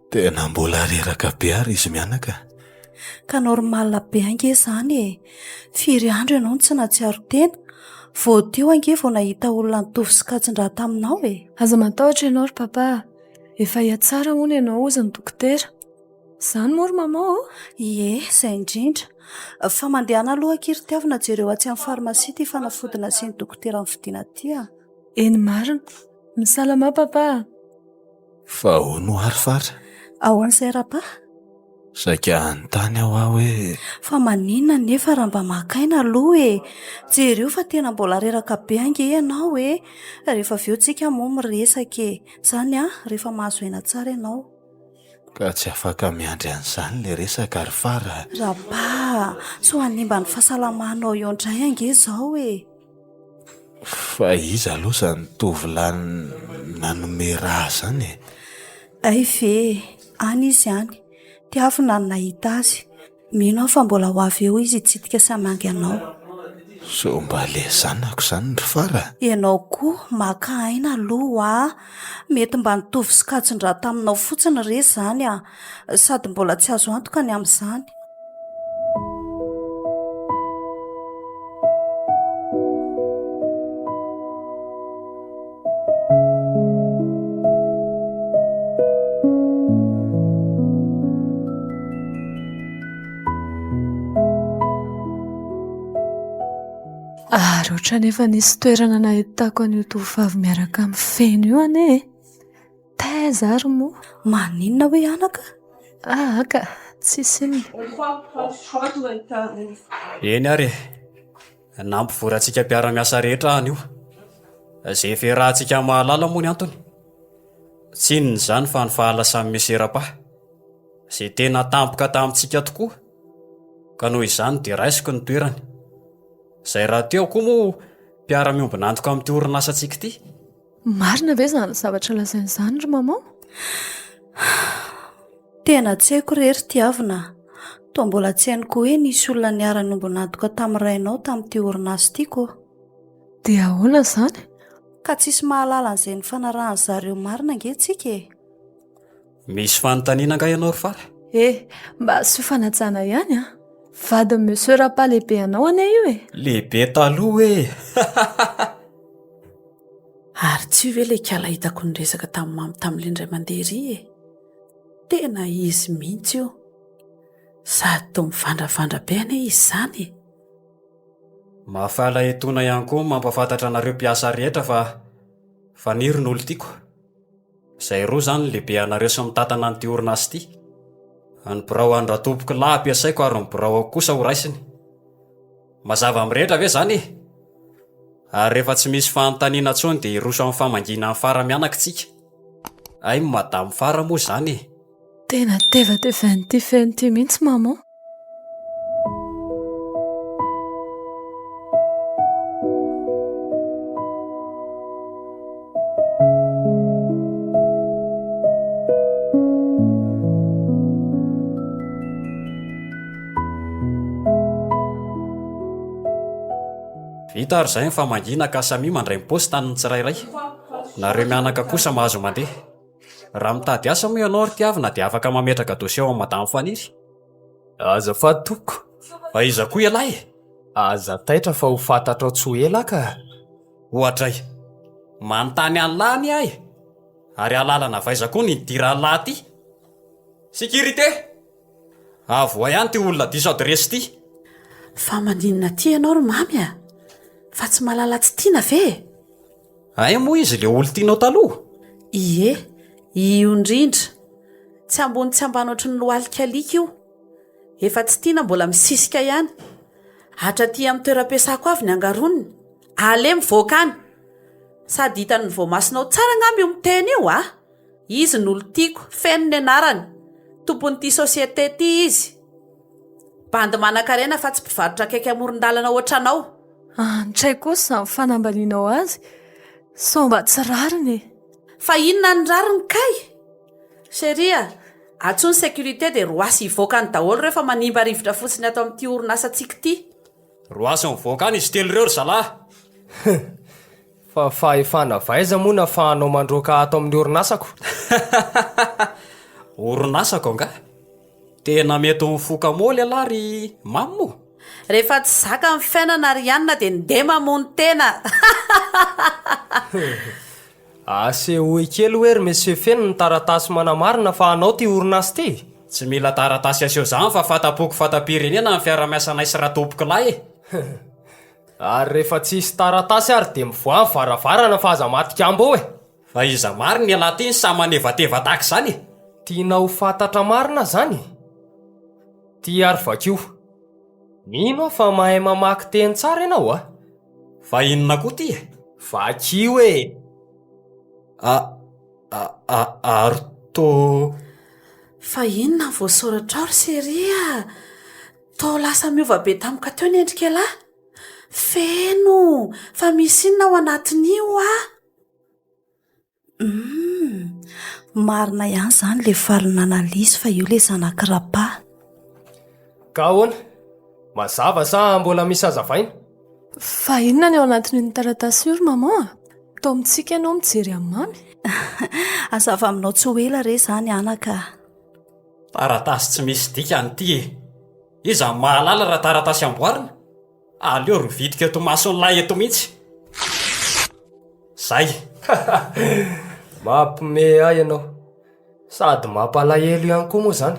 Tena mbola reraka be ary izy mianaka a! Ka normal be ange izany e! Firy andro ianao no tsy nahatsiaro tena? Vao teo ange vao nahita olona nitovo sy katsin-draha taminao e! Aza matahotra ianao ry Papa a! Efa hihatsara hono ianao hozy ny dokotera. Izany moa ry Maman ô? Ie, izay indrindra. Fa mandehana aloha akia ry Tiavina jereo atsy amin'ny farmasia ity fanafody nasian'ny dokotera nividiana ity a! Eny marina. Misalamà Papa a! Fa ahoana ho'a ry Fara? Ahoan'i Serapa? Saika hanontany aho aho hoe. Fa maninona anefa raha mba maka aina aloha e? Jereo fa tena mbola reraka be ange ianao e! Rehefa avy eo tsika moa miresaka e! Izany an, rehefa mahazo aina tsara ianao. Ka tsy afaka miandry an'izany ilay resaka ry Fara a! Rapa a! Sao hanimba ny fahasalamanao eo indray ange izao e! Fa iza aloha izany tovolahy nanome rà izany e? Hay ve e! Any izy any. Tiavina no nahita azy. Mino aho fa mbola ho avy eo izy hitsidika sy hamangy anao. Sao mba ilay zanako izany ry Fara? Ianao koa maka aina aloha ho'a! Mety mba nitovy sokajin-drà taminao fotsiny re izany an! Sady mbola tsy azo antoka ny amin'izany. Ary ohatran'ny efa nisy toerana nahitako an'io tovovavy miaraka amin'ny feny io anie e. Taiza ary moa? Maninona hoe anaka? Aa ka, tsisy inona. Eny ary e! Nampivorantsika mpiara-miasa rehetra aho anio. Izay efa iarahantsika mahalala moa ny antony. Tsy inona izany fa ny fahalasan'i Monsieur Rapa, izay tena tampoka tamintsika tokoa, ka noho izany dia raisiko ny toerany. Izay rahateo koa moa mpiara-miombon'antoka amin'ity orinasantsika ity. Marina ve izany zavatra lazainy izany ry maman? Tena tsy haiko re ry tiavina a. Toa mbola tsy hainy koa hoe nisy olona niara-niombon'antoka tamin'ny rainao tamin'ity orinasa ity ko. Dia ahoana izany? Ka tsisy mahalala an'izay nifanarahan-dry zareo marina ange tsika e. Misy fanontaniana angaha ianao ry fara? E, mba asio fanajana ihany a. Vadin'i Monsieur Rapa lehibe anao anie io e. Lehibe taloha hoe e. Ary tsy io ve ilay ikala hitako niresaka tamin'i Mamy tamin'ilay indray mandeha ery e? Tena izy mihitsy io. Sady toa mivandravandra be anie izy izany e! Mahafaly etoana ihany koa ny mampahafantatra anareo mpiasa rehetra fa Faniry no olon-tiako. Zay roa zany ny lehibe anareo sy mitantana an'ity orinasa ity. Ny birao an-dRatompoko lahy ampiasaiko ary ny biraoko kosa ho raisiny. Mazava mirehitra ve zany e? Ary rehefa tsy misy fanontaniana tsony dia hiroso amin'ny famangiana an'i Fara mianaka tsika. Hay Madame Fara moa zany e! Tena tevatevan'ity feno ity mihitsy Maman. Vita ary izay ny famangiana ka samia mandray ny paosy tanin'ny tsirairay. Nareo mianaka kosa mahazo mandeha. Raha mitady asa moa ianao ry tiavina dia afaka mametraka dosie ao amin'i madame Faniry. Azafady tompoko, aiza koa ialahy e? Aza taitra fa ho fantatrao tsy ho ela ka! Oadray, manontany an'lah anie aho e! Ary alalana avy aiza koa ny ity rahalahy ity? Sécurité! Avohay any ity olona diso adiresy ity! Fa maninona aty ianao ry Mamy a? Fa tsy malala tsy tiana ve e? Hay moa izy ilay olon-tianao taloha? Ie, io indrindra. Tsy ambony tsy ambany ohatry ny lohalika alika io. Efa tsy tiana mbola misisika ihany. Hatra aty amin'ny toeram-piasako avy ny angaroniny. Aleha mivoaka any! Sady hitan'ny voamasonao tsara angamba io miteny io a! Izy no olon-tiako, feno ny anarany. Tompon'ity société ity izy. Bandy manankarena fa tsy mpivarotra akaiky amoron-dalana ohatranao. Antsay kosa izany fanambanianao azy sao mba tsy rariny e. Fa inona ny rariny kay? Chérie a! Antsoy ny sécurité dia roasy hivoaka any daholo ireo fa manimba rivotra fotsiny ato amin'ity orinasantsika ity. Roasy mivoaka any izy telo ireo ry zalahy. Hum! Fa fahefana avy aiza moa no afahanao mandroaka ato amin'ny orinasako? Orinasako angaha? Tena mety ho mifoka moa lehilahy ry Mamy o! Rehefa tsy zaka ny fiainana ry Anna dia ndeha mamono tena! Asehoy kely hoe ry Monsieur Feno ny taratasy manamarina fa anao ity orinasa ity e! Tsy mila taratasy aseho izany fa fanta-poko fanta-pirenena ny fiaraha-miasanay sy Ratompokolahy e! Ary rehefa tsisy taratasy ary dia mivoaha ny varavarana fa aza matikambo eo e! Fa iza marina ialahy ty no samy manevateva tahaka izany e? Tianao ho fantatra marina izany e? Ity ary vakio. Mino aho fa mahay mamaky teny tsara ianao a! Fa inona koa ity e? Vakio e! A, a, a, ary to. Fa inona ny voasoratrao ry Seri a! Toa lasa miova be tamiko teo ny endrik'ialahy. Feno! Fa misy inona ao anatin'io a? Humm, marina ihany izany ilay valin'Analisa fa io ilay zanak'i Rapa. Ka ahoana? Mazava sa mbola misy hazavaina? Fa inona ny ao anatin'iny taratasy io ry maman a? Toa mitsiky ianao mijery an'i mamy. Hazava aminao tsy ho ela re izany anaka a! Taratasy tsy misy dikany ity e! Iza no mahalala raha taratasy amboarina? Aleo rovidiko eto mason'lah eto mihitsy. Zay. Mampme ahy ianao. Sady mampalahelo ihany koa moa izany.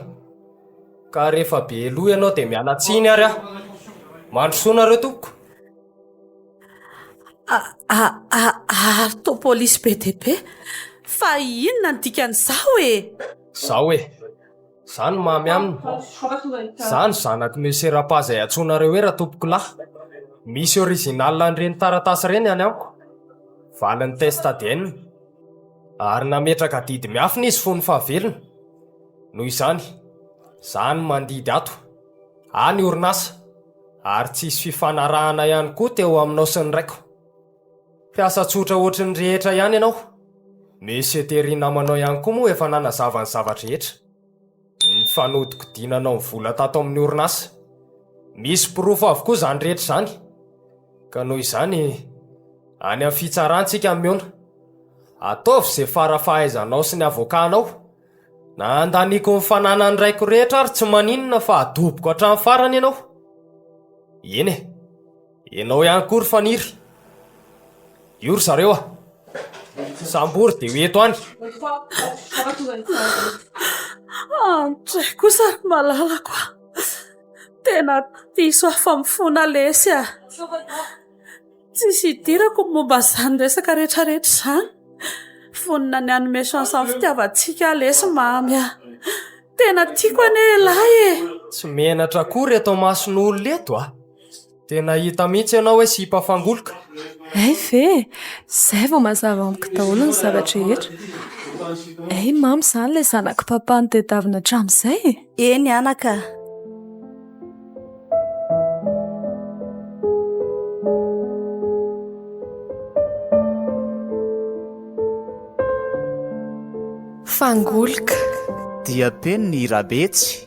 Ka rehefa be loha ianao dia miala tsiny ary aho. Mandrosoa nareo tompoko. Ary to polisy be dia be. Fa inona ny dikan'izao e? Zao e. Za no mamy aminy. Za no zanak'i Monsieur Rapa izay antsoinareo hoe Ratompokolahy. Misy original an'ireny taratasy ireny any amiko, valin'ny test ADN. Ary nametraka adidy miafina izy fony fahavelony. Noho izany, za no mandidy ato. Any orinasa. Ary tsy hisy fifanarahana ihany koa teo aminao sy ny raiko. Mpiasa tsotra ohatry ny rehetra ihany ianao. Monsieur Terry namanao ihany koa moa efa nanazava ny zava-drehetra. Ny fanodinkodinanao ny vola tato amin'ny orinasa. Misy porofo avokoa izany rehetra izany. Ka noho izany, any amin'ny fitsarana isika no mihaona. Ataovy izay fara fahaizanao sy ny avokanao. Na handaniako ny fananan'ny raiko rehetra ary tsy maninona fa adoboko hatramin'ny farany ianao. Eny e. Enao ihany koa ry faniry. Io ry zareo a. Sambory dia ho eto any. Andray kosa ry malalako a. Tena diso afa-mifona lesy a. Tsisy idirako ny momba izany resaka rehetrarehetra izany. Vonona ny hanome chance ny fitiavantsika aho lesy mamy a. Tena tiako anie ilay e. Tsy menatra akory eto amason'olona eto a. Dia nahita mihitsy ianao hoe sipa fangoloka? Hay ve e! Izay vao mazava amiko daholo ny zava-drehetra. Hay mamo izany ilay zanak'i Papa nitadiavina hatramin'izay e! Eny anaka a! Fangoloka. Dia teny ny Rabetsy.